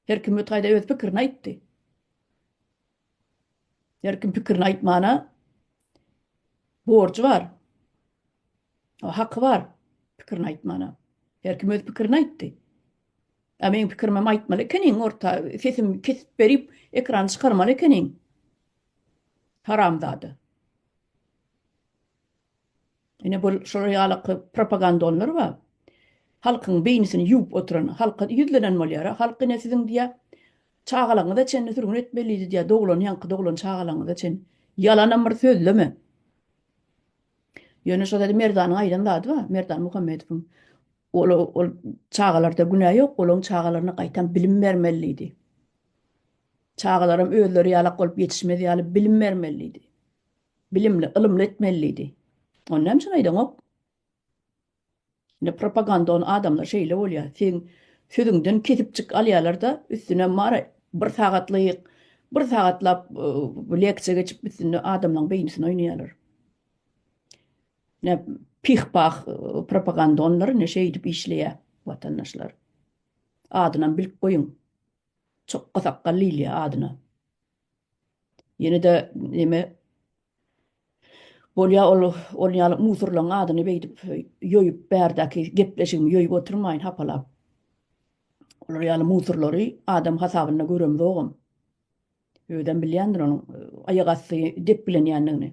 Her kim bu taýda öz pikirini aýtdy. Her kim pikirini aýtmana borjy bar. O haky bar pikirini aýtmana. Her kim öz pikirini aýtdy. A meň pikirimi hem aýtmaly ekeniň, orta sesim kesip berip, ekrana çykarmaly ekeniň. Haramzada. Ine bul şular ýalaky propagandonlar ba. Halkyň beýnisini ýuwup oturan, halka ýüzlenen bolýara, halk ine siziň diýä çagalaňyza çenli sürgün etmelidi diýä doglan ýaňky doglan çagalaňyza çen. Ýalanam bir sözleme. Ýöne şo zady Merdanyň aýdan zady ba, Merdan Muhammedowyň ol ol çagalarda günä ýok, olaň çagalaryna gaýtam bilim bermelidi. Çagalaram özleri ýalak bolup ýetişmez ýaly bilim bermelidi. Bilimli, ylymly etmeli diýdi. Ony näme üçin aýdaňok? Indi propaganda ony adamlar şeýle bolýar. Seň sözüňden kesipjik alýarlar-da, üstüne mara bir sagatlyk, bir sagatlap leksiýa geçip üstünde adamlaryň beýnisini oýnaýarlar. Näp pih-pah propaganda onlar indi şeýdip işleýär watandaşlar. Adynam bilip goýuň. Çokga sakgally diýilýär adyna. Ýene-de neme bolýar, ol ol ýaly musurlaň adyny beýdip ýoýup bärdäki gepleşigimi ýoýup oturmaýyn hapalap. Olar ýaly musurlary adam hasabynda göremzogam. Özem bilýändir onuň aýak asty depgilenýändigini.